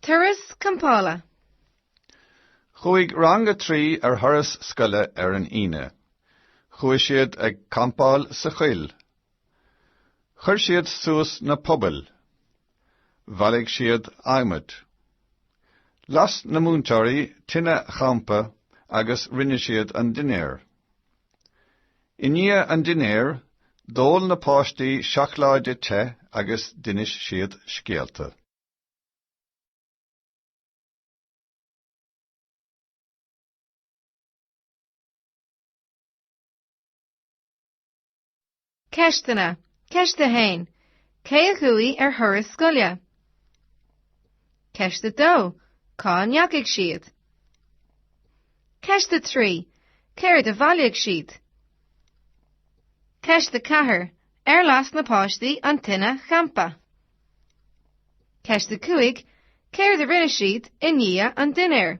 Turas Campála. Chuaigh Rang a Trí ar thuras scoile ar an Aoine. Chuaigh siad ag campáil sa choill. Chuir siad suas na pubaill. Bhailigh siad adhmaid. Las na múinteoirí tine champa agus rinne siad an dinnéar. I ndiaidh an dinnéir, d'ól na páistí seacláide te agus d'inis siad scéalta. Ceisteanna, Ceist 1, Cé a chuaigh ar thuras scoile? Ceist 2, Cá ndeachaigh siad? Ceist 3, Céard a bhailigh siad? Ceist 4, Ar las na páistí an tine champa? Ceist 5, Céard a rinne siad i ndiaidh an dinnéir?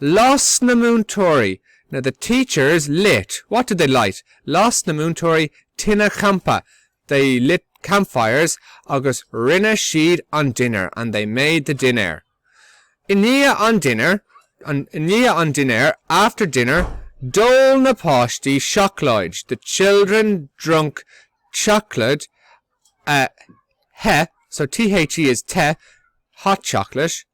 Las na múinteoirí na the teachers lit what did they light? las na múinteoirí tine champa they lit campfires agus rinne siad an dinnéar and they made the dinner. I ndiaidh an dinnéir i ndiaidh an dinnéir after dinner d'ól na páistí seacláide the children drunk chocolate te so te is the hot chocolate